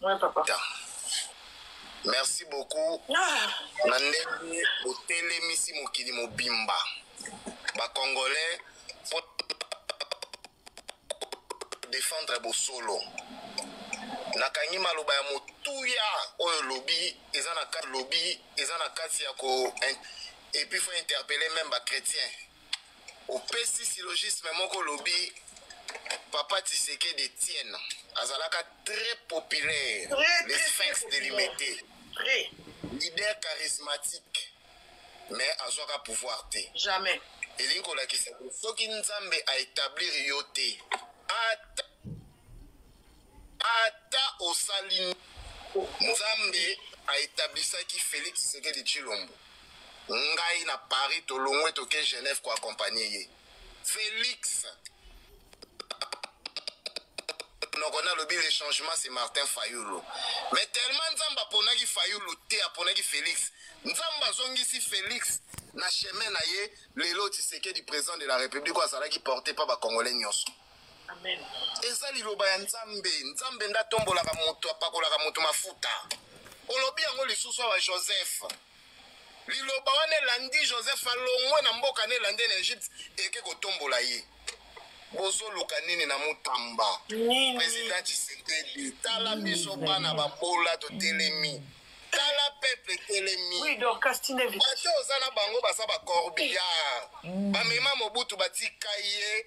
Ouais, papa. Merci beaucoup. Ah. Na ndenge botelemisi mokili mobimba. Ba Congolais pour défendre bosolo. nakangi maloba ya motuya oyo lobi eza na kati lobi eza na kati ya ko et puis faut interpeller même ba chrétiens opesi syllogisme moko olobi papa tisekedi etienne azalaka très populaire le sphinx de limete leader charismatique mais azwaka pouvoir te jamais elingi kolakisa soki nzambe aetablir yo te ata Ata osali nini, Nzambe a etablisaki Felix Tshisekedi Tshilombo. Ngai na Paris tolongwe toke Genève ko accompagner ye. Felix noko nalobi le changement c'est Martin Fayulu. Mais tellement Nzambe aponaki Fayulu te aponaki Felix. Nzambe azongisi Felix na chemin na ye lelo Tshisekedi président de la République oyo azalaki porte pa ba Congolais nyonso. eza liloba ya nzambe nzambe nde atombolaka moto apakolaka moto mafuta olobi yango lisusu awa joseph liloba wana elandi joseph alongwe na mboka na elandi na egypte eke kotombola ye bozoluka nini na motamba president tshisekedi tala biso bana babola totelemi tala peuple etelemi bato oza na bango baza bacorbillard mm. bamema mobutu batika ye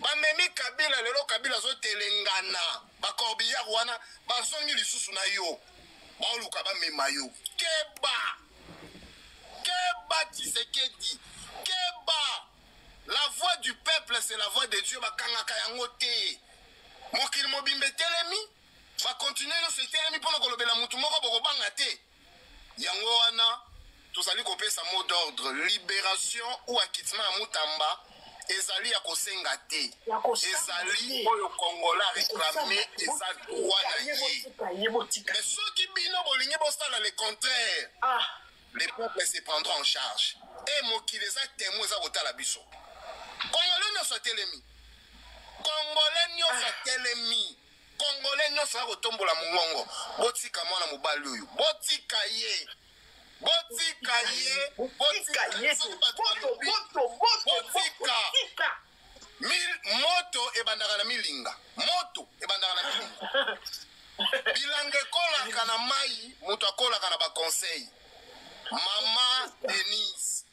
Ba memi kabila lelo kabila azo telengana ba corbillard wana bazongi lisusu na yo baoluka bamema yo keba keba tisekedi keba la voix du peuple c'est la voix de dieu bakangaka yango te mokili mobimba etelemi bakontinue nyonso etelemi mpo na kolobela motu moko bokobanga te yango wana tozali kopesa mot d'ordre liberation ou acquittement ya mutamba ezali ya kosenga te ezali oyo kongola reklame eza droit na ye mais soki bino bolingi bosala le contraire ah. le peuple se prendra en charge e mokili eza temo eza kotala biso kongole nyonso atelemi kongole nyonso atelemi ah. Congolais nionso ya kotombola mongongo, botika mwana mobali oyo, botika ye, botika ye, botika ye, botika Mil, moto ebandaka na milinga, moto ebandaka na milinga. Bilanga ekolaka na mai, moto akolaka na baconseil. Mama Denise.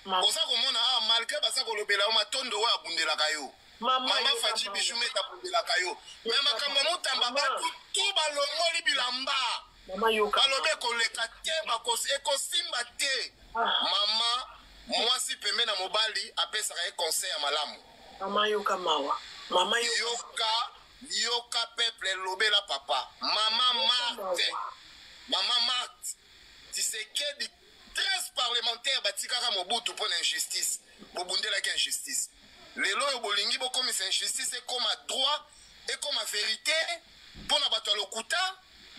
Oza komona awa malgre baza kolobela yo matondo oyo abundelaka yo mama faci bijou mete abundelaka yo me makambo ya motamba batu tu balongoli bilamba balobi ekoleka te ekosimba te ah. mama mwasi pembe na mobali apesaka ye conseil ya malamu mama yoka mawa mama yoka yoka peuple lobela papa mama marte mama marte tisekedi 13 parlementaires batikaka mobutu mpo na injustice bobundelaki injustice lelo oyo bolingi bokomisa injustice ekoma droit ekoma verite mpo na bato ya lokuta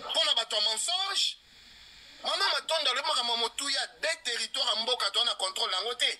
mpo na bato ya mensonge mama matondo alobi makambo ya motuya de territoire ya mboka toa na controle na yango te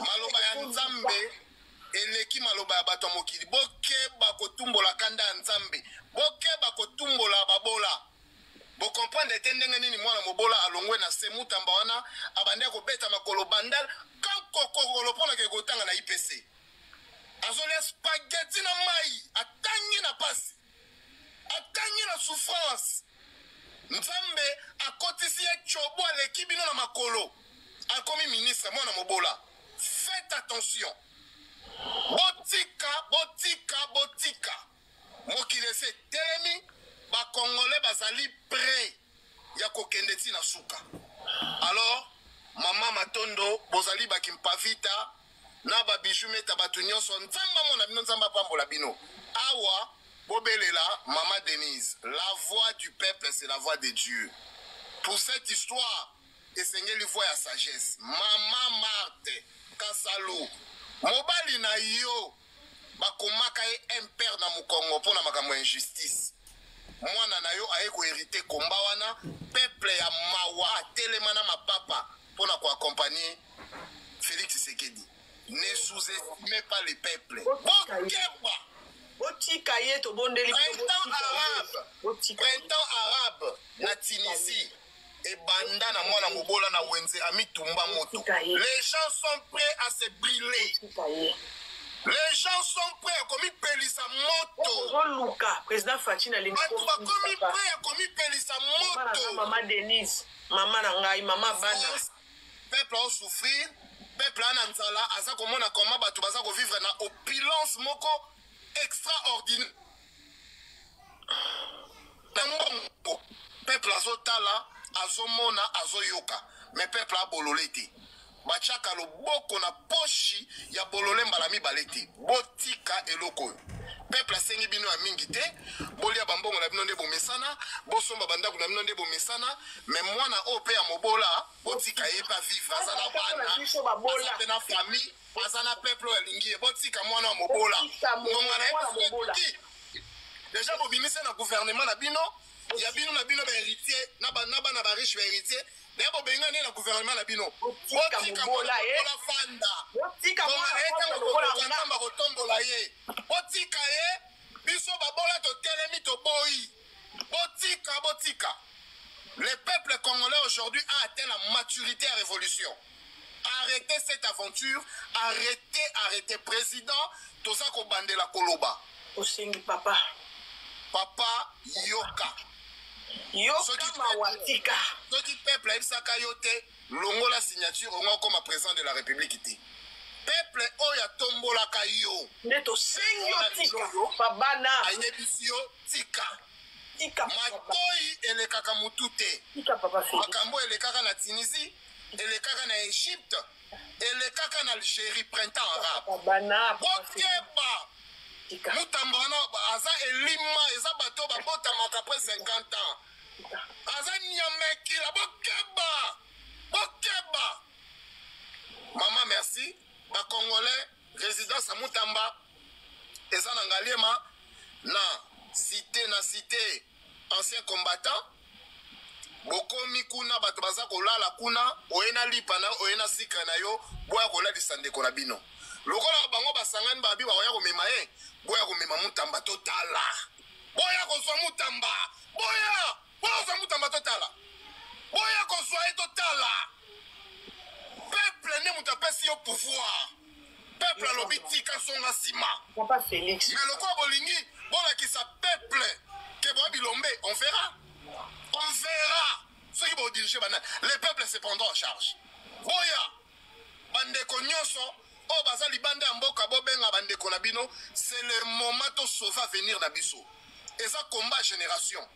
maloba ya nzambe eleki maloba ya bato ya mokili bokeba kotumbola kanda ya nzambe bokeba kotumbola babola bokomprendre te ndenge nini mwana mobola alongwe na se mutamba wana abandi akobeta makolo bandal kankokokolo mpo na kekotanga na ipc azolia spageti na mai atangi na pasi Atangi na souffrance. Nzambe akotisi ye cobo aleki bino na makolo. Akomi ministre mwana mobola. Faites attention. Botika, botika, botika. Mokili esi etelemi, ba congolais bazali prêt. ya kokende ti na suka alors mama matondo bozali bakimpavita na babiju meta bato nyonso nzambe amona bino nzambe apambola bino awa bobelela mama denise la voix du peuple c'est la voix de dieu pour cette histoire esengeli voix ya sagesse mama marte kasalu mobali na yo Ba komaka ye impère na mukongo mpo na makambo ya injustice. Mwana na yo aye ko heriter combat wana, peuple ya mawa atelema na mapapa mpo na ko accompagner Felix Tshisekedi. Ne sous-estimez pas le peuple. Bokeba! botika ye tobondeli printemps arabe na tunisie ebanda na mwana mobola na wenze amitumba moto les gens sont prêts à se briller les gens sont prêts komipelisa moto ozoluka président faci na lingi bato bakomi prêt ya komipelisa moto mama denise mama na ngai mama bana peuple osouffrir peuple ana nzala aza komona koma bato baza kovivre na opulence moko extraordinaire na mbongo peuple azotala azomona azoyoka me peuple abolole te batiaka loboko na poshi ya bolole mbala mibale te botika eloko oyo peuple asengi bino ya mingi te bolia bambongo na bino nde bomesana bosomba bandako na bino nde bomesana me mwana oyo mpe ya mobola botika ye mpe avivre aza na bana aza mpe na famille aza na peuple oyo alingi ye botika mwana ya mobola ngonga na ye deja bobimisi na gouvernement na bino ya bino na bino baheritier na bana bariche baheritier naye bobengani ye na gouvernement na bino botika mobola fanda ntango kotombola ye botika ye biso babola totelemi toboyi botika botika le peuple congolais aujourd'hui a atteint la maturité ya révolution Arretez cette aventure, arretez, arretez. Président, toza kobandela koloba. Osengi papa. Papa yoka. Yoka mawatika. Soki peuple ayebisaka yo te, longola signature ongo okoma président de la République te. Peuple oyo atombolaka yo. Nde tosengi yo tika. Babana. Ayebisi yo tika. Tika. Matoi elekaka mutu te. Tika papa Félix. Makambo elekaka na Tunisie. elekaka na egypte elekaka na algérie printemps arabe bokeba mutamba wana aza elima eza bato babotamaka apres 50 ans aza nyamekila bokeba bokeba mama merci bacongolais résidence ya mutamba eza na ngaliema na site na site ancien combattant bokomi kuna bato baza kolala kuna oye na lipa na oye na sikre na yo boya kolalisa ndeko na bino lokola bango basangani babi bakoya komema ye boya komema mutamba totala boya kozwa mutamba boya boya kozwa mutamba totala boya kozwa ye totala peuple nde moto apesi yo pouvoir peuple alobi tika songa sima papa felix mais lokola bolingi bolakisa peuple ke boya bilombe on verra on verra soki bodirige bana le peuple se prendra en charge boya bandeko nyonso oyo baza libanda ya mboka bobenga bandeko na bino c'est le moment tosauve avenir na biso eza combat génération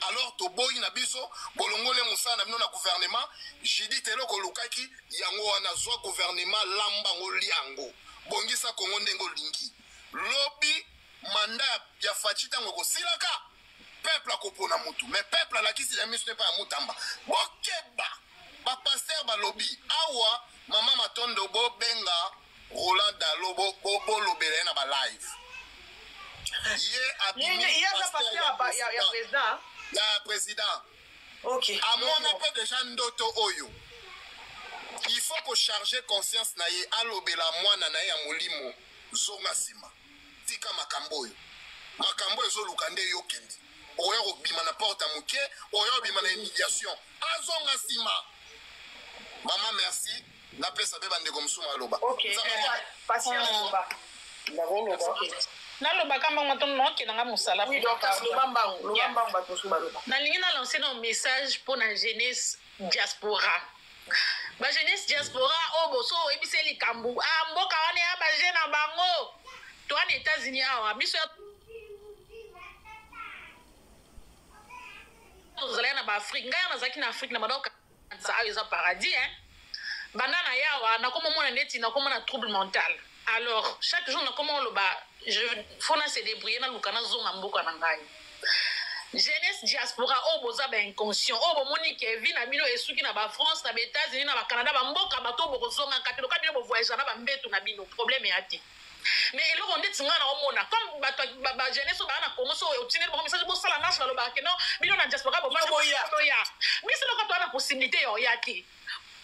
alors toboyi na biso bolongole mosala na bino na gouvernement judith eloko olukaki yango wana zwa gouvernement lamba ngo lia yango bongisa kongo ndenge olingi lobi manda ya faci ntango ekosilaka peuple akopona motu mais peuple alakisi na miso epai ya motamba bokeba bapaster balobi awa mama matondo bobenga Roland Dalo bo bo bo lobela na ba live. Ye abimi ye ye aza pasteur ya ba- ya- ya président. Ya président. Ok. Amona pe déjà ndoto oyo. Il faut ko charger conscience na ye alobela mwana na ye ya molimo. Zonga sima. Tika makambo oyo. Makambo ezo luka nde yo kende. Oya kobima na porte ya moke, oya kobima na humiliation. Azonga sima. Maman merci. napesa mpe bandeko mosusu maloba nalobaka mbango to nokenda nga mosala nalingi nalanse na message mpo na jeunesse diaspora ba jeunesse diaspora oyo oh, boso oyebisa likambo a ah, mboka wana ya baje na bango to wana etats-unis awa biso ya tozalaki na baafrike ngai nazalaki na afrike na madao Sa ayo eza paradis hein. Banda na yawa nakoma mona neti nakoma na trouble mental. Alors chaque jour nakoma oloba je faut na se débrouiller na luka na zonga mboka na ngai. Jeunesse diaspora oyo oh, boza ba inconscient oyo oh, bomoni ke vie na bino esuki na ba France na ba États-Unis na ba Canada ba mboka bato bokozonga kate loka bino bo voyager na ba mbetu na bino problème ya te. mais eloko ndeti nga na omona comme bato ba, ba jeunesse ba na Congo so otindeli bango message bosala marche balobaka ke non bino na diaspora bovanda boya boya biso loko to na possibilité ya oya te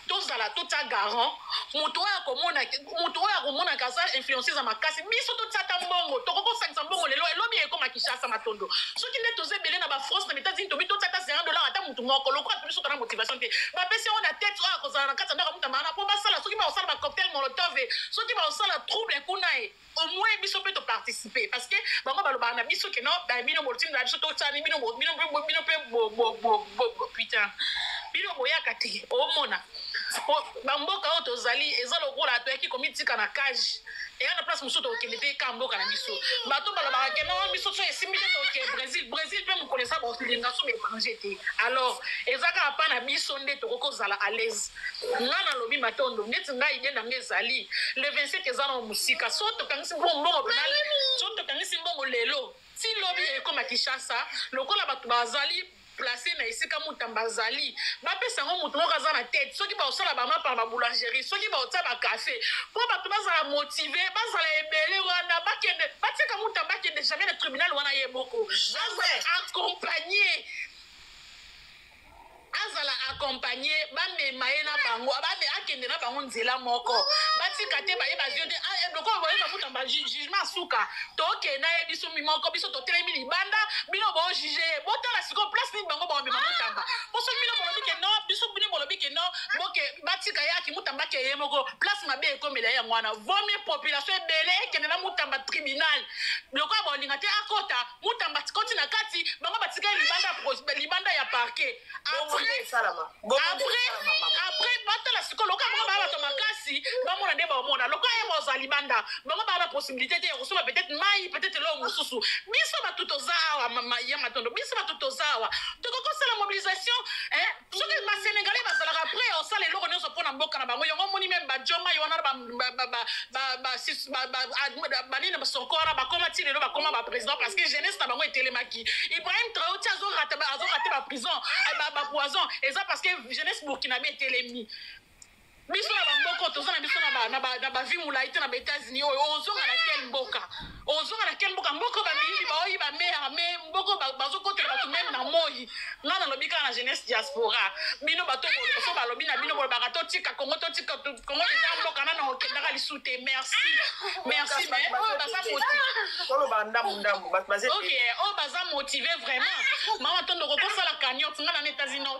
tozala totya garant moto oyo akomona moto oyo akomona kaza influence eza makasi biso totya ata mbongo tokoki kosangisa mbongo lelo elobi ekoma kishasa matondo soki nde toza ebele na bafrance na mitazini tobi totya ata 0 dollar ata motu moko lokola tobi soka na motivation te bapesi yango na tete oyo akozala na kati ya ndako ya moto ya maana mpo basala soki bakosala bacocktail molotove soki baosala trouble kuna ye au moins biso mpe toparticipe parce que bango balobaka na biso ke no bino botinda biso tosani bino mpe putain bino boyaka te omona bamboka oyo tozali eza lokola toyaki komitika na cage eya na place mosusu tokokende te ka mboka na biso bato balobaka ke no biso so esimbi te toke brésil brésil mpe mokolo eza baokilinga so baétranger te alors eza kaka mpa na biso nde tokoki kozala à l'aise Nga na lobi matondo neti nga idee na nga ezali le 27 eza nao musika so tokangisi mbongo mbongo pena so tokangisi mbongo lelo ti lobi ekoma kishasa lokola bato bazali place na esika mutamba azali bapesa yango moto moko aza na tete soki baosala bamapa na baboulangerie soki baotia bacafe mpo bato bazala motive bazala ebele wana bakende batika mutamba akende jamais na tribunal wana ye moko accompagne azala accompagne bamema ye na bango abame akende na bango nzela moko batika te baye bazio te ah, eh, lokola boye bakuta ba jugement suka tokende ye biso mimoko biso totelemi libanda bino bo juge ye botala sikoyo place nini bango bakomema mutamba po soki bino bolobi ke no biso bino bolobi ke no boke batika ye aki mutamba ake ye moko place mabe ekomela ye yango wana vomi population ebele ekende na mutamba tribunal lokola bolinga te akota Mutamba atikoti na kati, bango batikali libanda ya pro- libanda ya parquet. Bongo nde Après, esalama. Bongo nde après, esalama, mama. après, batala sikoyo lokola bango baa bato makasi, bamona nde baomona. Lokola ye baoza libanda, bango baa na possibilité te ya kosomba peut-être mai, peut-être eloko mosusu. Biso bato toza awa, mama ya matondo, biso bato toza awa. Tokoki kosala mobilisation, eh, Soki ba senegalais bazalaka près ya kosala eloko nionso mpo na mboka na bango yango omoni meme ba djo mai wana banini basoko wana bakoma ti lelo bakoma ba président parce que jeunesse na bango etelemaki ibrahim traore ti azorate ba prison ba poison eza parce que jeunesse burkinabe etelemi biso na bamboka oyo toza na biso na bavi molai te na baetats-unis oyo ozonga na kel mboka ozonga na kel mboka mboka bamiyibi baoyi bamera me mboka bazokotela bato meme na moi ngai nalobi kaka na jeunesse diaspora bino bato boloso balobi na bino bolobaka totika kongo totika kongo eza mboka nana okendaka lisu te merci merci me oyo baza motiveoyo baza motive vraiment mama tondo kokosala cagnote ngai na na etats-unis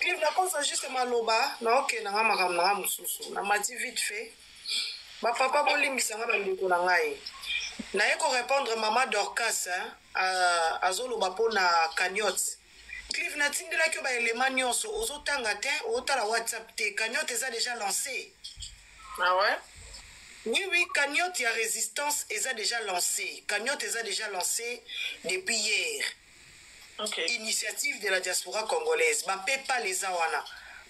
clive nakosa juste maloba naokende nanga makambo nanga mosusu na mati vite fait bapapa bolimbisa nga bandeko na ngai naye korépondre mama dorcas azoloba mpo na cagnote clive natindelaki yo baelema nyonso ozotanga te otala whatsapp te cagnote eza déjà lancé Ah ouais? Oui oui cagnotte ya resistance eza dejà lancé cagnotte eza dejà lancé depuis hier okay. initiative de la diaspora congolaise ba paypal eza wana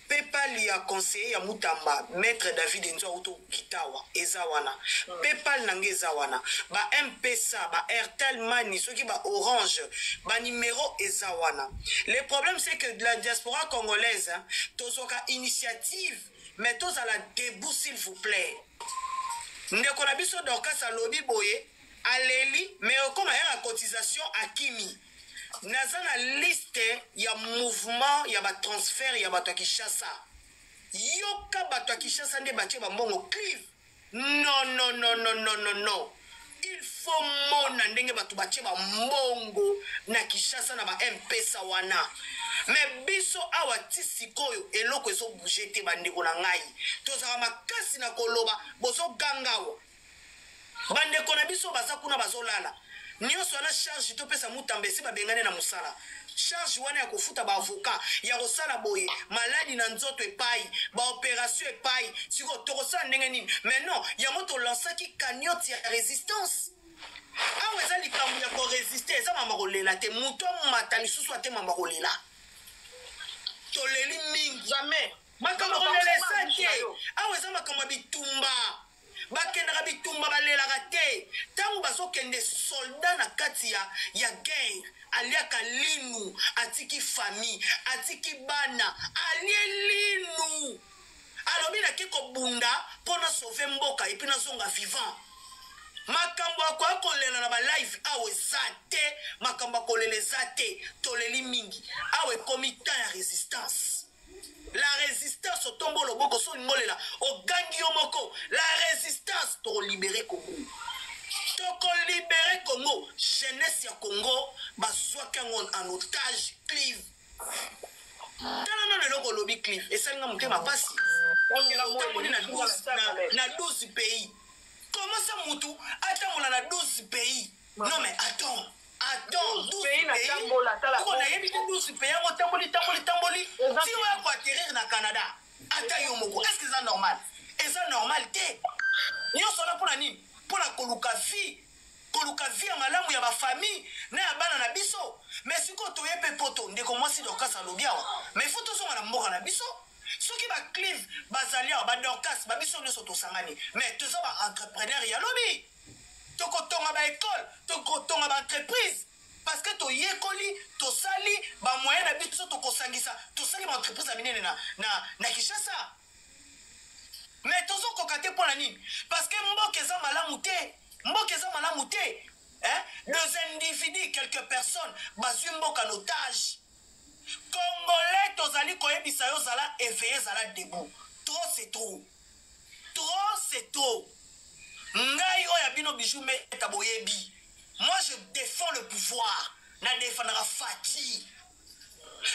paypal ya conseiller ya mutamba maître david enzo auto kitawa eza wana mm. paypal na ngai eza wana ba mpesa ba airtel mani soki ba orange ba numero eza wana le problème c'est que de la diaspora congolaise tozwaka initiative mais tozala debout s'il vous plaît ndeko na biso dorcas alobi boye aleli mais okoma yaka cotisation akimi naza na liste ya mouvement ya batransfert ya bato ya kinshasa yoka bato ya kinshasa nde batie bambongo clive Non non non non non non non il faut mona ndenge bato batie bambongo na kinshasa na ba mpesa wana me biso awa ti sikoyo eloko ezobouge te bandeko na ngai tozala makasi na koloba bozoganga awa bandeko na biso baza kuna bazolala Nionso wana charge to pesa mutamba esi ba bengane na musala. Charge wana ya kofuta ba avocat ya kosala boye maladi na nzoto epayi ba operation epayi siko toko sala ndenge nini mais non yango to lansaki cagnotte ya resistance awa eza likambo ya ko resister eza mama kolela te moto amata lisusu ate mama kolela toleli mingi jamais makambo kolela eza te awa eza makambo ya bitumba Bakendaka bitumba balelaka te tangu bazo kende soldat na kati ya ya guerre aliaka linu atiki famille atiki bana alie linu alobi na ke kobunda mpo na sauve mboka epuis nazonga vivant makambo akoya kolela na balive awa eza te makambo akolela eza te toleli mingi awa ekomi temps ya resistance la resistance otombo oloboko so olingolela ogangi yo moko la resistance tokolibere kongo tokolibere kongo jeunesse ya kongo bazwaki yango en otage clive tala nano eloko olobi clive esali nga motema mpasi otamboli na 12 pays comment ça mutu atambola na 12 pays Non mais attends. Attends, 12 pays na tambola tala. Ko na yebi 12 pays yango tamboli tamboli tamboli. Ti wa ko atterrir na Canada. Ata yo moko. Est-ce que c'est normal? Eza normal te. Nyoso na pona nini? Pona koluka vie. Koluka vie ya malamu ya ba famille na ya bana na biso. Mais siko toye pe poto ndeko mwasi Dorcas alobi awa. Mais faut tozonga na mboka na biso. soki baclive bazali awa badorcas babiso nyonso tosangani mais toza baentrepreneur ya lobi tokotonga ba ecole tokotonga ba entreprise parce que toyekoli tosali bamoyen na biso tokosangisa tosali baentreprise ya minene na, na, na kinshasa me tozokoka te mpo na nini parce que mboka eza malamu te mboka eza malamu te eh? deux individus quelques personnes bazwi mboka notage congolais tozali koyebisa yo zala eveye zala debout trop c'est trop trop c'est trop ngai oyo ya bino bijou meta boyebi moi je défends le pouvoir na defandaka faci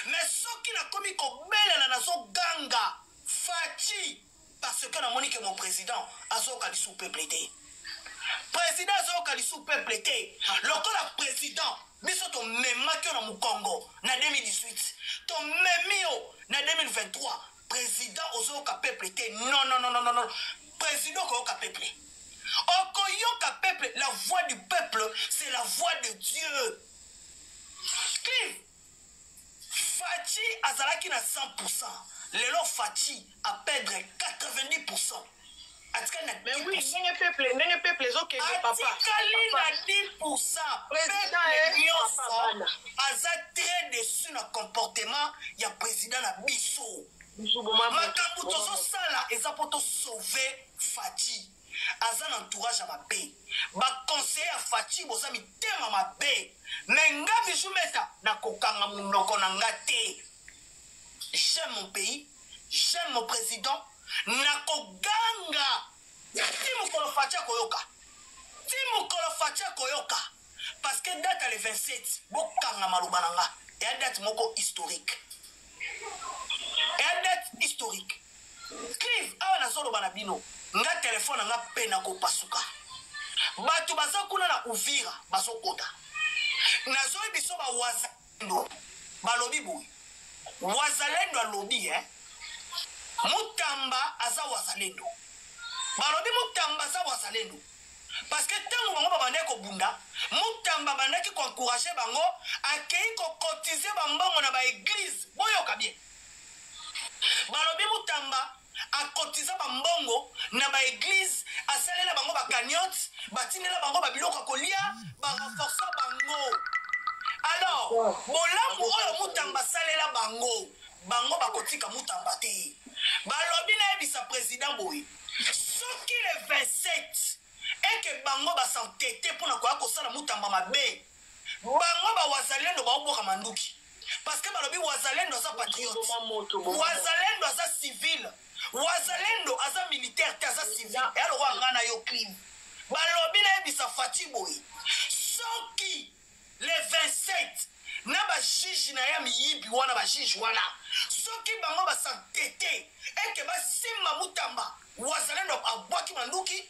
mais soki nakomi kobelela nazoganga faci parce que namoni ke mon président azoyoka lisu peuple te président azoyoka lisu peuple te lokola président biso tomemaki yo na mokongo na 2018 tomemi yo na 2023 president ozoyoka peuple te non non non non non president okoyoka peuple okoyoka peuple la voix du peuple c'est la voix de dieu clive faci azalaki na 100 lelo faci aperdre 90 atikali na mais oui ndenge peuple ndenge peuple ezokende papa atikali na 10 pourcent peuple eh, nyonso aza très déçu na comportement ya président na biso makambo tozosala eza mpo tosauve fati aza na entourage ya mabe baconseiller ya fati boza mitema mabe me nga bijumeta nakokanga monoko na nga te j'aime mon pays j'aime mon président nakoganga ti mokolo faci akoyoka ti mokolo faci akoyoka parce que date ya le 27 bokanga maloba na nga eya date moko historique eya date historique clive awa nazoloba na bino nga telefone na nga mpe nakopasuka bato baza kuna na uvira bazokota nazoyebiso bawaza Wazalendo balobi boye wazalendo alobi eh? mutamba aza wazalendo balobi mutamba aza wazalendo parce que ntango bango babandaki kobunda mutamba abandaki koencourage bango akei kokotize bambongo na baeglize boyoka bien balobi mutamba a cotiza ba mbongo na ba eglise asalela bango ba cagnotte batindela bango ba biloko ya kolia ba renforcer bango alors bolamu oyo mutamba asalela bango bango bakotika mutamba te balobi nayebisa president boye soki le 27 eke bango basantete mpo na koya kosala mutamba mabe Bango ba wazalendo bao boka manduki parce que balobi wazalendo aza patriote wazalendo aza civil wazalendo aza militaire te aza civil ya lokola ngai na yo clean balobi nayebisa faci boye soki le 27 na bajiji na ye ya miyibi wana bajiji wana soki bango basantete ete basimba mutamba wazalendo abwaki manduki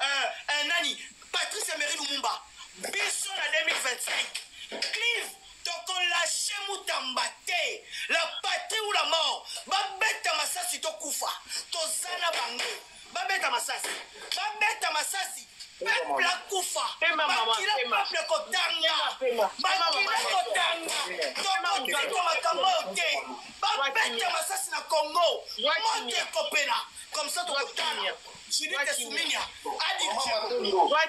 euh, euh, nani Patrice Emery Lumumba biso na 2025 clive tokolashe mutamba te la patrie ou la mort babeta masasi tokufa toza na bango babeta masasi babeta masasi peuple akufa makila peuple kotanga makila kotanga tokotika makambo oyo te babeta masasi na congo moto ekopela comme ça tokotala Judith Suminia a dirigé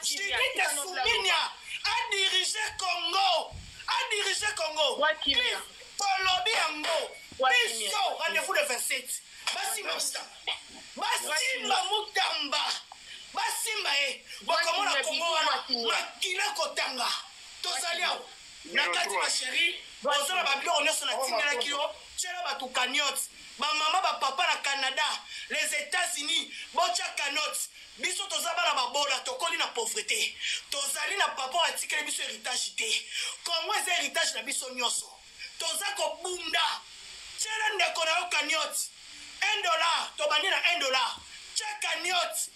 Judith Suminia a dirigé Congo a dirigé Congo tolobi yango biso rendez-vous le 27 basimba mutamba basimba mutamba basimba ye bokomona Congo wana makila kotanga tozali awa Na kati ma cherie oza na ba biloko nionso na tindelaki yo tiela batu cagnotte ba mama ba papa na Canada les etats unis botia cagnotte biso toza bana babola tokoli na pauvrete tozali na papa oyo atikeli biso heritage te congo eza heritage na biso nionso toza kobunda tiela ndeko na yo cagnotte 1 dollar tobandi na 1 dollar tia cagnotte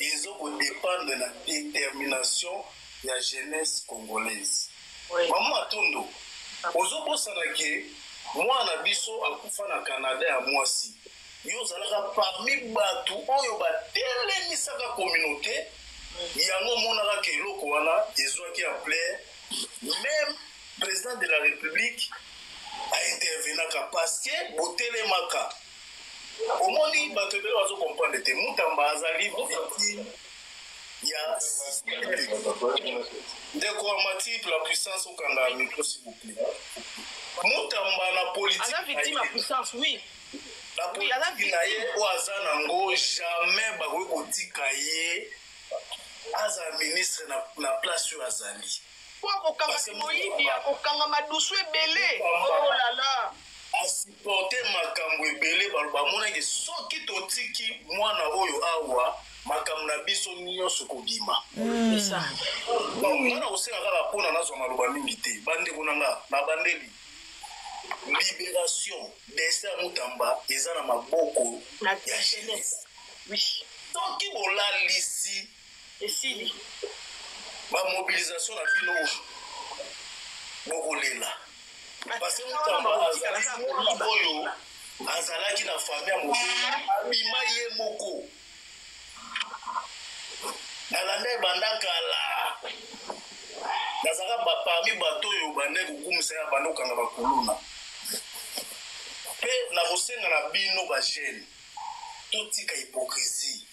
ezo ko dependre na determination ya jeunesse congolaise oui. maman matondo ozobosana ke mwana na biso akufa na canada ya mwasi yo ozalaka parmi bato oyo batelemisaka communauté yango omonaka ke eloko wana ezwaki ampleur meme président de la république a intervenaka parce que botelemaka omoni bato ebele bazo comprendre te mutamba azali victime ya ndeko wa matip la puissance okanga micro s'il vous plaît mutamba na politique aza victime ya puissance oui na politiki na ye oyo aza nango jamais bakoki kotika ye aza ministre na, na place oyo azali po akokanga moyibi akokanga madusu ebele olala oh porter makambu ebele baloba monaki soki totiki mwana oyo awa makambo na biso nyonso kobima mpona kosenga kaka mpona nazwa maloba mingi te bandeko na nga na bandeli liberation destin ya motamba eza na maboko ya jeunesse soki bolalisi Esili. Ba mobilisation na bino bokolela. Parce que mutamba azali oyo azalaki na famille ya mobile abima ye moko nalanda ebanda kala nazalaka baparmi bato oyo bande kokumisa ya bande kokanga bakuluna mpe nakosenga na bino bagene totika hypocrisie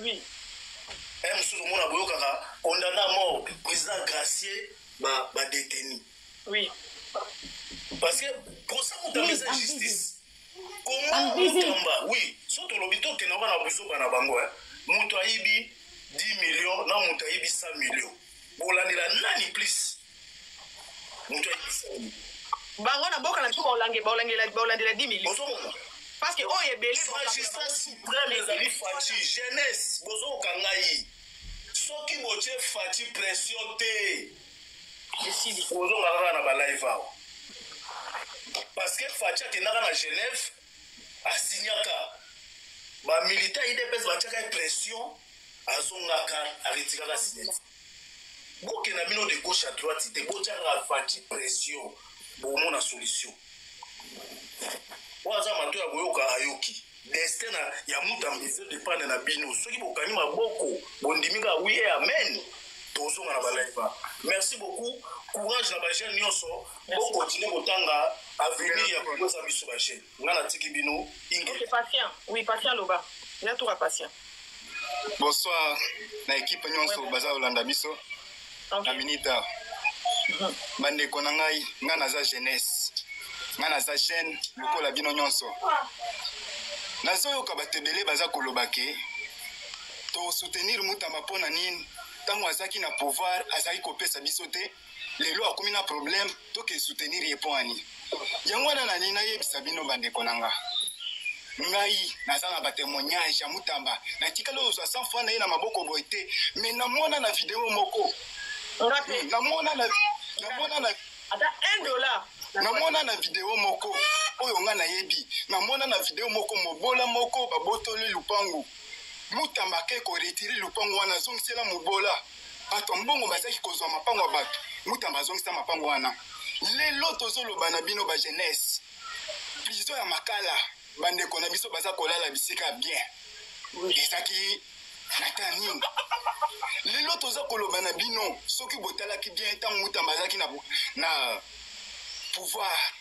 Oui. Eh, mosusu omona boyokaka condamne à mort président gracier badeteni oui. parce que posa moto ameza justice komaokamba oui so tolobi tokenda oka na buzoba na bango eh. moto ayibi 10 million na moto ayibi 100 million bolandela nani plus moto ayebisani bango na mboka na biso baolandela 10 million ozomona parce que oyo ebele magistrat supreme ezali faci jeunesse bozokoka ngai soki botie faci pression te ozonga kaka na balive awa parce que faci akendaka na genève asignaka ba militants idps batiaka ye pression azongaka aretiraka signature bokenda bino de gauche à droite te botiaka faci pression bomona solution oyo aza mato ya koyoka ayoki destin na ya mutu ambizo dependre na bino soki bokangi maboko bondimi kaka wi e amen tozonga na balaiba merci beaucoup courage na bajeune nyonso Bo continuer kotanga avenir ya Congo eza biso ba jeunes. Nga natiki bino inge. Ok patient. Oui patient loba. Ya tour ya patient. Bonsoir na equipe nyonso ouais, baza kolanda biso. Okay. Na minita. Mhm. Bandeko na ngai, nga naza jeunesse. Nga naza jeune lokola bino nyonso. Nazoyoka bato ebele baza koloba ke tosoutenir mutamba mpo na nini ntango azalaki na pouvoir azalaki kopesa biso te lelo akomi na problème toke soutenir ye mpo ani yango wana nani nayebisa bino bandeko na nga ngai naza na batemoignage ya mutamba natikali ozwa sans fois na ye na maboko boye te mais namona na video moko namona na namona na ata 1 dollar namona na video moko oyo ngai nayebi namona na video moko mobola moko babotoli lupangu mutamba ake koretire lupangu wana azongisela mobola Bato ya mbongo bazaki kozwa mapango ya bato. Mutamba azongisa mapango wana. Lelo tozoloba na bino ba jeunesse, prison ya Makala, bandeko na biso baza kolala bisika ya bien. Ezaki na temps nini? Lelo toza koloba na bino, soki botalaki bien ntango Mutamba azalaki na pouvoir,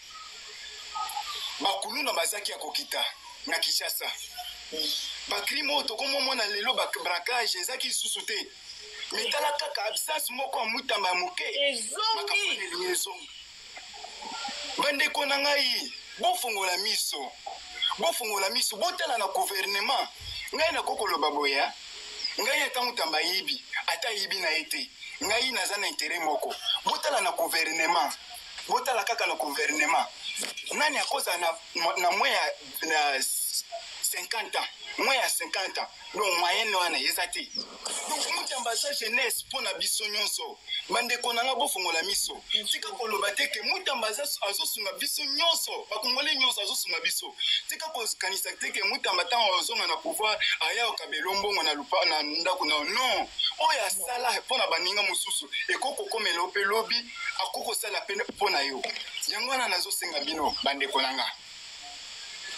bakuluna bazaki ya kokita na kinshasa bacrime oyo tokomomona lelo babracage ezaki lisusu te mitala kaka absence moko ya mutamba ya moke ezongi bandeko na ngai bofongola miso bofongola miso botala na guvernema ngai nakoki koloba boye ngai ata mutamba ayibi ata ayibi na ye te ngai naza na intere moko botala na guvernema Botala kaka na guvernema, nani akozala na, na mwe ya na 50 ans mwe ya 50 ans donc moyenne wana eza te donc mutamba aza jeunesse mpo na biso nyonso bandeko na nga bofongola miso tika koloba te ke mutamba azosunga biso nyonso bakongole nyonso azosunga biso tika kokanisa te ke mutamba ntango ozonga na pouvoir ayao kabelo mbongo na lupa na ndako na non oyo asala mpo na baninga mosusu ekoki kokomela yo mpe lobi akoki kosala pene mpo na yo yango wana nazosenga bino bandeko na nga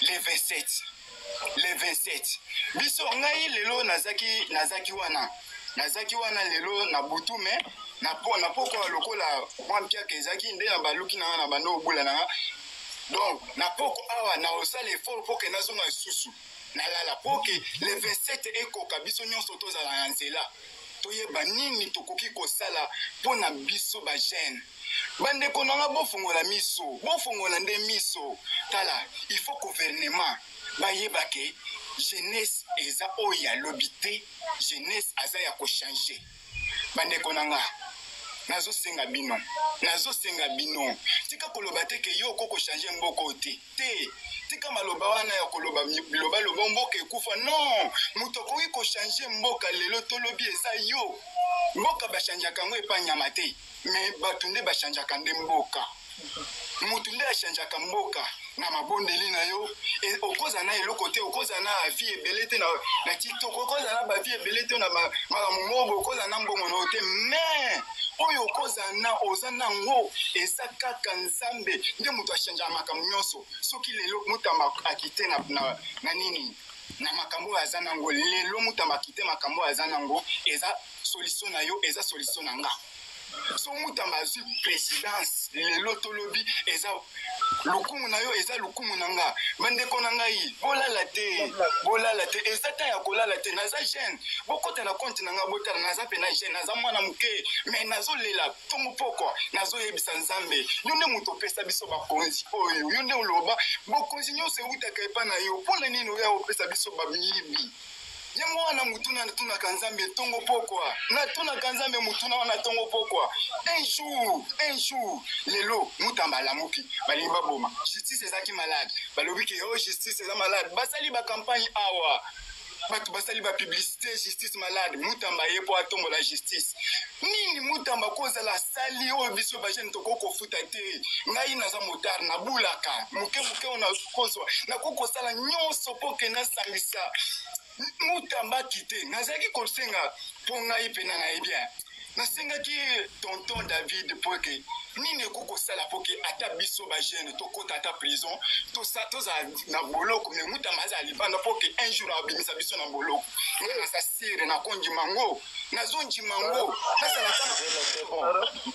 le 27 le 27 biso ngai lelo nazaki nazaki wana nazaki wana lelo na butu me na pokwa lokola mwa mpiaka ezalaki nde na baluki na nga na bando obula na nga donc na poko awa nakosala effort mpo ke nazonga lisusu nalala mpo ke le 27 ekoka biso nyonso tozala na nzela toyeba nini tokoki kosala mpo na biso bagene bandeko na nga bofongola miso bofongola nde miso tala il faut gouvernement bayeba ke jeunesse eza oyo ya lobi te jeunesse aza ya kochange bandeko na nga nazosenga bino nazosenga bino tika koloba te ke yo oko kochange mboko te te tika maloba wana ya koloba biloba loba mboka ekufa non moto akoki kochange mboka lelo tolobi eza yo mboka bachangeaka yango epa nyama te me bato nde bachangeaka nde mboka moto nde achangeaka mboka na mabondeli na yo e, okozala na eloko te okozala na avi ebele te na tiktok okozala na bavi ebele te na makambo mobo okozala na mbongo na yo te mais oyo okozala na oza na yango eza kaka nzambe nde moto achangeaka makambo nyonso soki lelo motamba akite na, na, na nini na makambo oyo aza nango lelo motamba akite makambo oyo aza nango eza solution na yo eza solution na nga so mutamba azwi présidence lelo tolobi eza lokumu na yo eza lokumu na nga bandeko na ngai bolala te bolala te eza ntan ya kolala te naza jeune bokota na konte na ngai botala naza mpena jeune naza mwana moke mai nazolela ntongo pokwa nazoyebisa nzambe yo nde moto opesa biso bakonzi oyo yo nde oloba bokonzi nyonso ewutaka epa na yo mpo na nini oya opesa biso bamiyibi yango wana motuna natunaka nzambe ntongo pokwa natunaka nzambe motuna wana ntongo pokwa un jour un jour lelo mutamba alamuki balingi baboma justice ezalaki malade balobi ke o oh, justice eza malade basali bacampagne awa bato basali bapublicité justice malade mutamba ye mpo atombola justice nini mutamba kozala asali oyo biso bajene tokoki kota te ngai naza motar nabulaka moke moke oyo nakozwa nakoki kosala nyonso mpo ke nasangisa mutambaki te nazalaki kosenga mpo ngai mpena na ye bien nasengaki tonton david mpo ete nini ekoki kosala mpo ke ata biso bagene tokota ata prison tozala na boloko me mutamba azala libanda mpo ke un jour abimisa biso na boloko nga naza sire nakondima ngo nazondima ngo nazala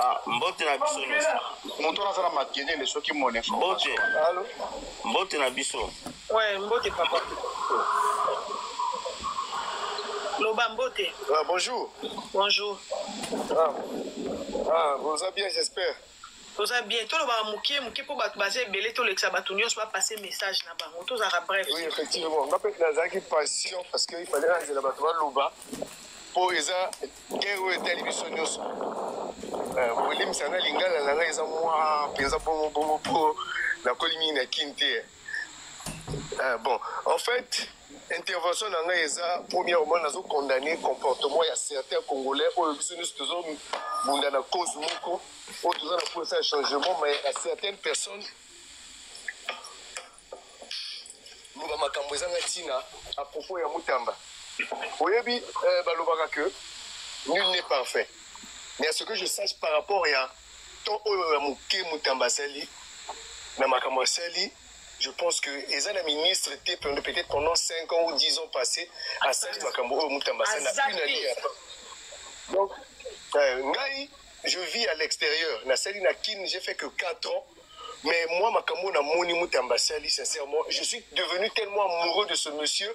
Ah, mbote na biso moto wana aza na makelele soki mone mbote mbote na biso ouais mbote papa loba mbote ah, bonjour bonjour ah, ah, boza bien j'espère toza bien tolobaka moke moke mpo bato baza ebele tolekisa bato nyonso bapase message na bango tozalaka bref oui effectivement nga mpe nazalaki passion parce que ifale nazela bato baloba mpo eza guerre oyo etali biso nyonso euh, kolimisa na lingala na ngai eza mwa mpenza bongo bongo mpo nakoli mingi na kin te Ah, bon, en fait, intervention na ngai eza premièrement nazo condamner comportement ya certains congolais oyo biso nyonso tozobunda na cause moko oyo toza na mposa ya changement mais ya certaines personnes loba makambo ezanga ntina à propos ya mutamba oyebi euh, balobaka que nul n'est parfait mais à ce que je sache par rapport ya To oyo ya muke mutamba asali na makambo asali je pense que eza na ministre te peut-être pendant 5 ans ou 10 ans passé asali makambo oyo mutamba asali na une année ya donc euh, ngai je vis à l'extérieur nasali na kin j'ai fait que 4 ans mais moi makambo na moni mutamba asali sincèrement je suis devenu tellement amoureux de ce monsieur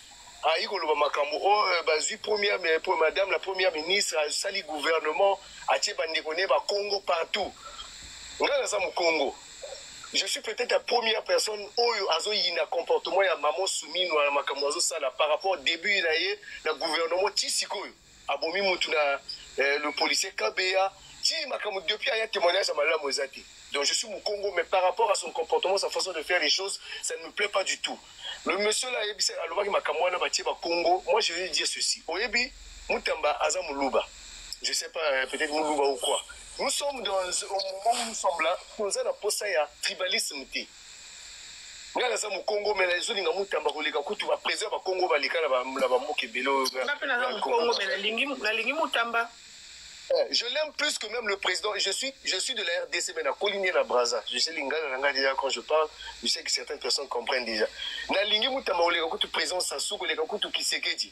ayi koloba makambo o oh, euh, bazwi première mais pour madame la première ministre asali gouvernement atie bandeko ne bakongo partout ngai naza mokongo je suis peut-être la première personne oyo azoyina comportement ya mamo sumino na makambo azosala par rapport début na ye na gouvernement ti sikoyo abomi mutu na eh, le policier kabeya ti makambo depuis aya témoignage ya malamu eza te donc je suis mukongo mais par rapport à son comportement sa façon de faire les choses ça ne me plaît pas du tout le monsieur là ayebisa alobaki makambo wana batie bakongo moi je vais dire ceci oyebi mutamba aza muluba je sais pas euh, peut-être muluba ou quoi nous sommes dans au moment où nous sommes là toza na posa ya tribalisme te nga naza mokongo mela ezolinga mutamba koleka kutu bapresi ya bakongo baleka na bamboka ebele oyoinga mpe naza mokongo me nalingi mutamba eh, je l'aime plus que même le président je suis, je suis de la rdc mais nakoli nie na braza je sais lingala na ngai déjà quand je parle je sais que certaines personnes comprennent déjà nalingi mutamba koleka kutu président sasu koleka kutu kisekedi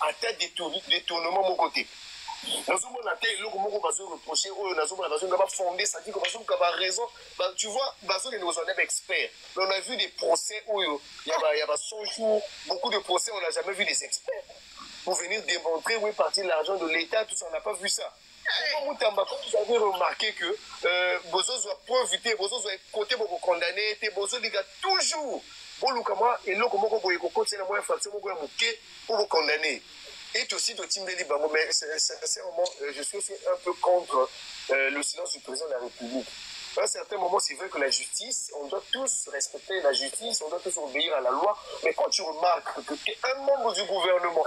ata detournement moko te nazomona te eloko moko bazo reproche oyo nazomona bazonga bafonde sadiko bazoluka baraison tu vois bazokende kozwa nde baexpert mais on a vu des procès oyo ya ba 100 jours beaucoup de procès on a jamais vu des experts pour venir démontrer où est parti l'argent de l'état tout ça on n'a pas vu ça Papa Mutamba, comme vous avez remarqué que euh, bozozwa preuve te, bozozwa kote bokokondane ye te, bozolika toujours boluka mwa eloko moko boye kokotela mwa infraction moko ya moke mpo bokondane ye. Et aussi totimbeli bango, mais sin- sin- sincèrement, euh, je suis aussi un peu contre euh, le silence du président de la République. À un certain moment, c'est vrai que la justice, on doit tous respecter la justice, on doit tous obéir à la loi, mais quand tu remarques que tu es un membre du gouvernement,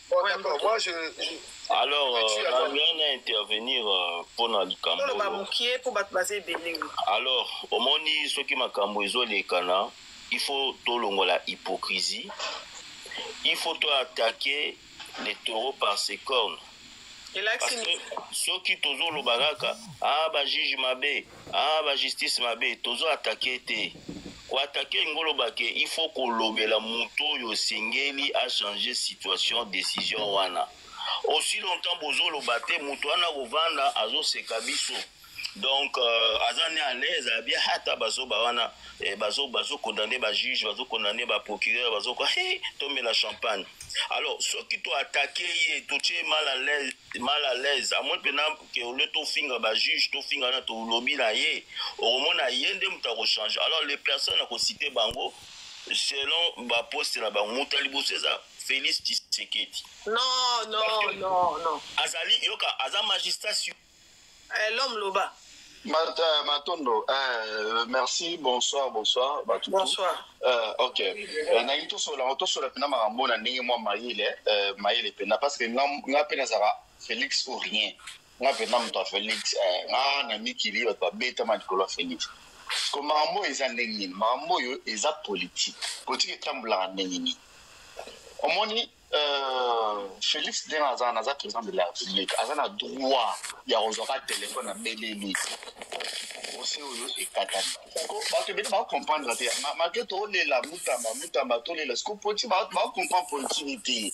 Bon, d'accord. Moi, je. je... Alors, euh, rien à intervenir euh, pour na likambo. Toloba mukie pour bat baze ebele. Alors, omoni soki makambo ezo lekana, il faut tolongola hypocrisie. Il faut to attaquer les taureaux par ses cornes. Parce que soki tozoloba kaka ah bajuge mabe Ah ba justice mabe tozo attaquer te. Ko attaquer ngolo bake il faut ko lobela moto yo singeli a changer situation décision wana. Aussi longtemps bozo loba te moto wana ko vanda azo seka biso. Donc euh, aza ne à l'aise à bien hata bazo ba wana eh, bazo bazo condamner ba juge bazo condamner ba procureur bazo ko hey, tombe la champagne. Alors soki to attaquer ye to tie mal à l'aise mal à l'aise à moins pena que au lieu tofinga ba juge tofinga na tolobi na ye okomona ye nde moto akochange alors les personnes akosite bango selon baposte na bango moto ya liboso eza félix tshisekedi non non non non azali yoka aza magistrat sur eh, l'homme loba euh, matondo euh, merci bonsoir bonsoir bato bonsoir euh, ok euh, nalingi tosola tosola mpena makambo na ndenge mwa mayele euh, mayele mpena parce que nga mpe nazalaka Felix ou rien. Nga pena moto ya Felix eh, nga na mikili bato babetama likolo ya Felix siko makambo oyo eza ndenge nini makambo oyo eza politike politike etambulaka ndenge nini omoni euh, Felix ndenge aza naza président de la République aza na droit ya kozwaka telefone na beleli ose oyo ekatani bato ebele bakokomprendre te make tolela mutamba mutamba tolela siko poti bakokomprendre politiki te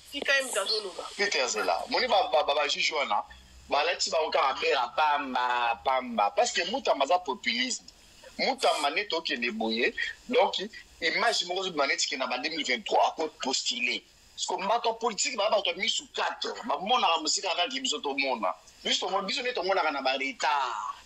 Tika ye moto azoloba. Peter Zela. Moni ba ba ba, ba juge wana balati bango kaka bela pamba pamba parce que Mutamba aza populisme. Mutamba nde tokende boye donc image moko ezobima neti ke na ba 2023 ako postuler. Parce que bato ya politique baa bato ya misu 4 bamonaka mosika kaka ke biso tomona. Biso tomona biso nde tomonaka na ba retard.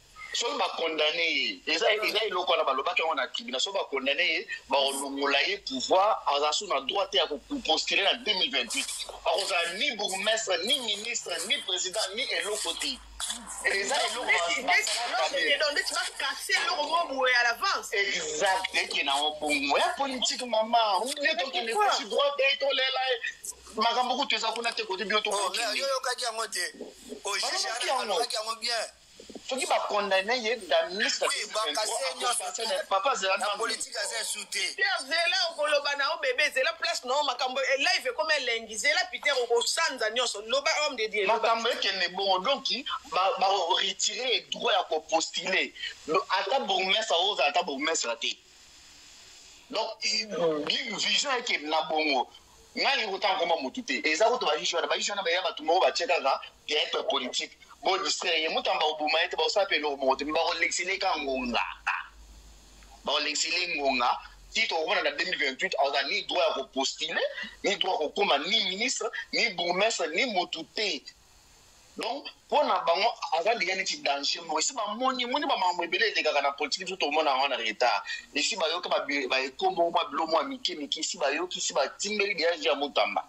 soki bakondane ye eza eza eloko wana balobaki yango na tribunal soki bakondane ye bakolongola ye pouvoir aza so na droit te ya kopostule na 2028 akozala ni bourgmestre ni ministre ni président ni eloko te eza eloko bakase eloko moko boye à l'avance exact eke na obongo ya politique mama ne tokende kosi droit te tolela makambo kutu eza kuna te kote bino toyokaki yango te oyeaki yango bien soki ba condamner ye da ministre oui ba kase nionso papa zela na politique aza insulté Pierre zela okoloba na o bébé zela place non makambo e live comme elengi zela Peter okosanza nionso loba homme de Dieu makambo ekende bongo donc ba ba retirer droit ya ko postuler ata bourgmestre oza ata bourgmestre te donc vision eke na bongo nga alingi kotanga koma motu te eza kutu bajuge wana bajuge wana baya bato moko batie kaka theatre politique bodistraire ye mutamba koboma ye te bakosala mpe eloko moko te me bakolekisa eleka ngonga bakolekisa ele ngonga ti tokomona na 2028 aza ni droit ya kopostule ni droit ya kokoma ni ministre ni bourgmestre ni motu te donc mpo na bango aza deja neti danger moko esi bamoni moni bamakambo ebele elekaka na politiki biso tomona yango na retard esi bayoki baeko moko mwa bilo mwa mike mike esi bayoki esi batimbeli deja je ya motamba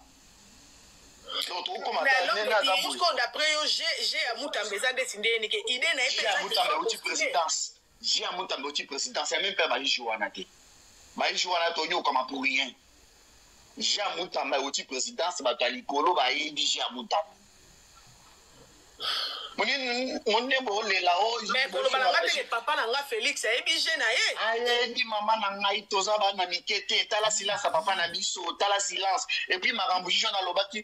d'après yo je ya motamba eza ndeti ndenge nike ide na ye mpe Vieux ya Mutamba oti presidence ya même pas ba ijou wana te. Ba ijou wana to nyokama pour rien. Vieux ya Mutamba oti presidence bato ya likolo ba yebi vieux ya Mutamba. mondembo olela me koloba na ngai ndenge papa na ngai félix ayebi je na ye ayebi mama na ngai toza bana mike te tala silence ya papa na biso tala silence epuis makambo juge wana alobaki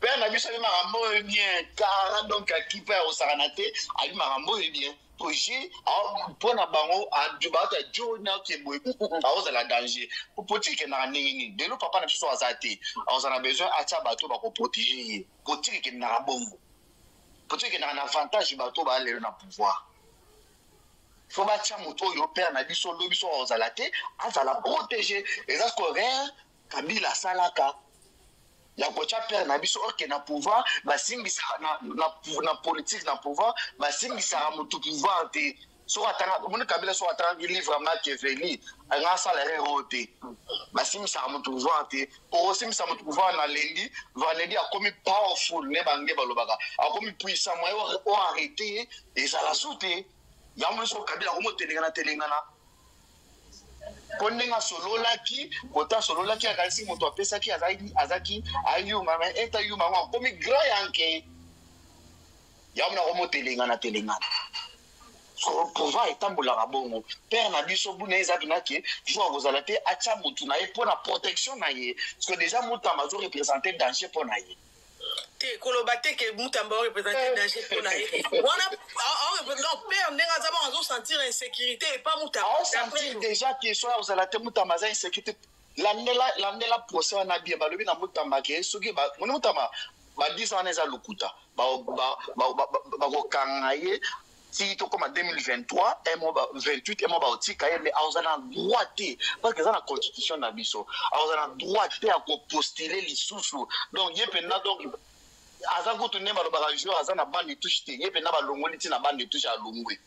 père na biso ayebi makambo oyo bien kara donc akipe ya kosakana te ayebi makambo oyo bien proje mpo na bango bato ya jona ke boye akozala danger potiki ekendaka ndenge nini lelo papa na biso aza te akoza na besoin atya bato bakoprotege ye potiki ekendaka bongo potiki ekendaka na avantage bato baa lelo na pouvoir faut batya moto oyo père na biso lobi soki akozala te azala protege eza siko rere kabila asalaka ya kotya père na biso oke na pouvoir basimbisaka na, na, na politique na pouvoir basimbisaka motu pouvoir te soki atanga omoni kabila soki atangaki livre ya machiavelli anga asala rere oyo te basimbisaka motu pouvoir te okosimbisa moto pouvoir na lendi vendredi akomi powerful ne bange balobaka akomi puissant moye o arrete ye ezala su te yango nyonso kabila akomi otelengana telengana mpo ndenge asololaki kota asololaki akanisi moto apesaki azaki ayuma ma eta yuma yango akomi grand yanke yango mona komo telengana telengana soko pouvoir etambolaka bongo père na biso buna eza bina ke jour akozala te atya motu na ye mpo na protection na ye soko déjà mutamba azo représente danger mpo na ye te koloba te ke mutamba aorepresente eh. danger mpo na ye wana aorepresente père ndenge aza bango azosentir insécurité epa mutamba aosentir déjà ke soki akozala te mutamba aza insécurité landela landela procès wana bien balobi na mutamba ke soki ba moni mutamba ba 10 ans wana eza lokuta bakokanga ye ti tokoma 2023 emo 28 emo baotika ye mais aoza na droit te parce que eza na constitution na biso aoza na droit te ya kopostule lisusu donc ye mpenza donc aza kutu nde balobaka jour aza na bande touche te ye mpenza balongoli ntina bande touche alongwe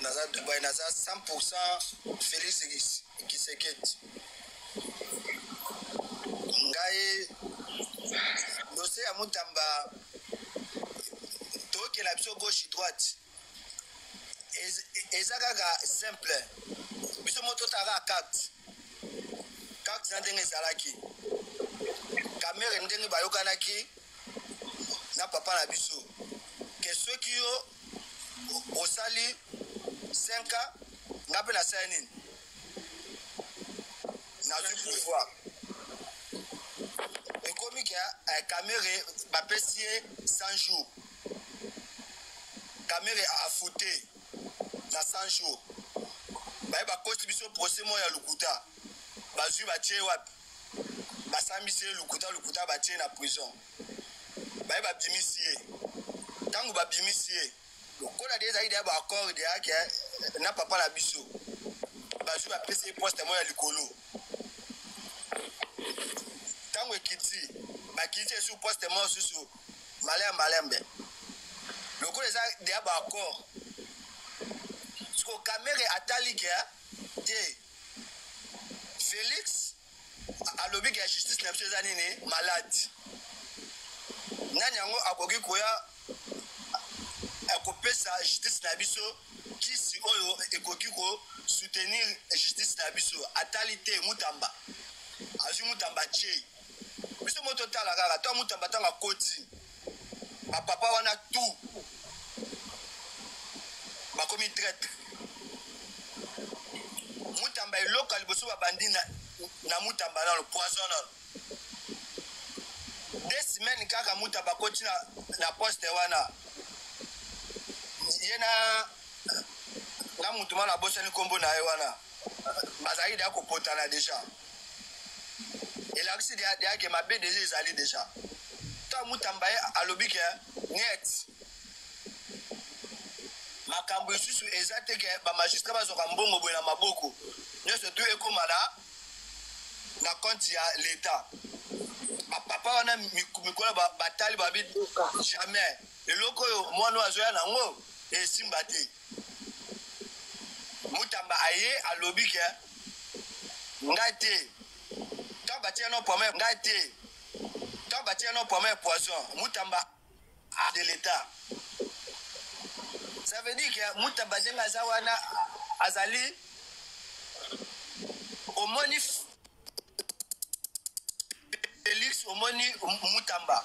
naza dubai naza 100 felix kiseketi ngai dose ya mutamba tokela biso gauche droite eza kaka simple biso mo totaka carte carte na ndenge ezalaki kamere ndenge bayokanaki na papa na biso ke soki yo osali 5 ans nga mpe nasali nini nazwi pouvoir ekomi ke eh, kamere bapesi ye 100 jours kamere afute na 100 jours baye bakosi biso procès moko ya lokuta bazwi batye wapi basambisi ye lokuta lokuta batye na prison baye babimisi ye ntango babimisi ye lokola de ezalaki deya baaccord deyake na papa na biso bazwi bapesi ye poste moko ya likolo ntango ekiti bakiti esu poste moko susu malem malembe lokola eza deya baaccord siko kamere atali ke te felix alobi ke justice na biso eza nini malade nani yango akoki koya akopesa justice na biso kisi oyo ekoki ko soutenir justice na biso atali te mutamba azwi mutamba ce biso mo totala kaka to mutamba ntango akoti Ba papa wana tout bakomi traitre. Mutamba eloko liboso babandi na, na Mutamba nalo poison nalo deux semaines kaka Mutamba koti na, na poste wana ye na na mutu mana abosani nkombo na ye wana bazalaki deya kopotana deja elakisi deya ke mabe deja ezali deja ta mutamba ye alobi ke net makambo lisusu eza te ke bamagistrat bazwaka mbongo boye na maboko nyonso tu ekóma na na konte ya leta bapapa wana mikolo batali babi jamais eloko oyo mwana oyo azoya na yango esimba te Mutamba aye alobi ke ngai te ntango batia no pwama ya ngai te ntango batia no pwama ya poison Mutamba a de l'etat ça veut dire que Mutamba ndenge aza wana azali omoni Felix omoni Mutamba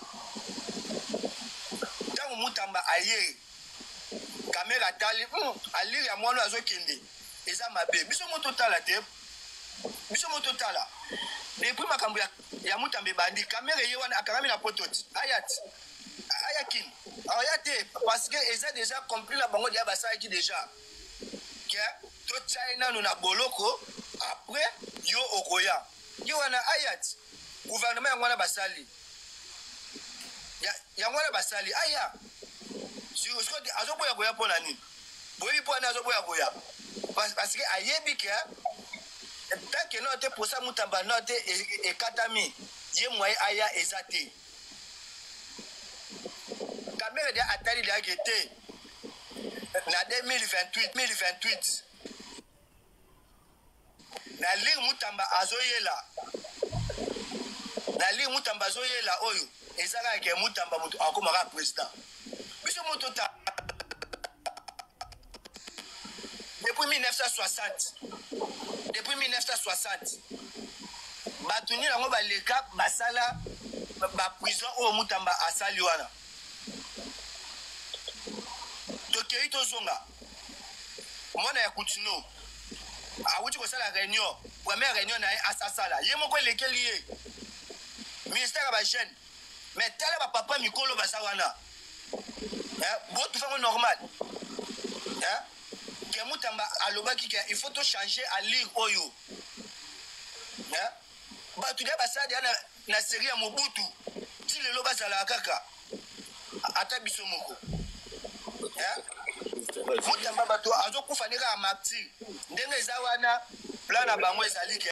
ntango Mutamba aye kamera atali hmm, alire ya mwana azokende eza mabe biso mo totala te biso mo totala depuis makambo ya, ya Mutamba ebandi kamera eye wana akangami na poto ti aya ti aya kini aya te parce que eza déjà compris na bango deya basalaki déjà ke totya ye nano na boloko après yo okoya ye wana ayat gouvernement yango wana basali yango wana basali aya azoboya koya mpo na nini boyebi mpo wana azoboya koya parce que ayebi ke tanke nao te posa mutamba nao te e, e, ekatami ye mwaye aya eza te Kamere de atali de age te na 2028 2028 na ligue mutamba azoyela na ligue mutamba azoyela oyo ezalaka ke mutamba moto akomaka president biso moto ta depuis 1960 depuis 1960 bato nini yango baleka basala baprison oyo mutamba asali wana tokei tozonga mwana ya kutino awuti kosala réunion première réunion na ye asasala ye moko elekeli ye ministère ya bajeune Mais tala ba papa mikolo baza wana. Hein? Bo tu fais normal. Hein? Que mutamba alobaki que il faut tout changer à lire oyo. Hein? Ba tu ba ça na na série ya Mobutu. Ti lelo bazala kaka. Ata biso moko. Hein? Mutamba bato azokufa ndenge ya martyr. Ndenge eza wana plan na bango ezali ke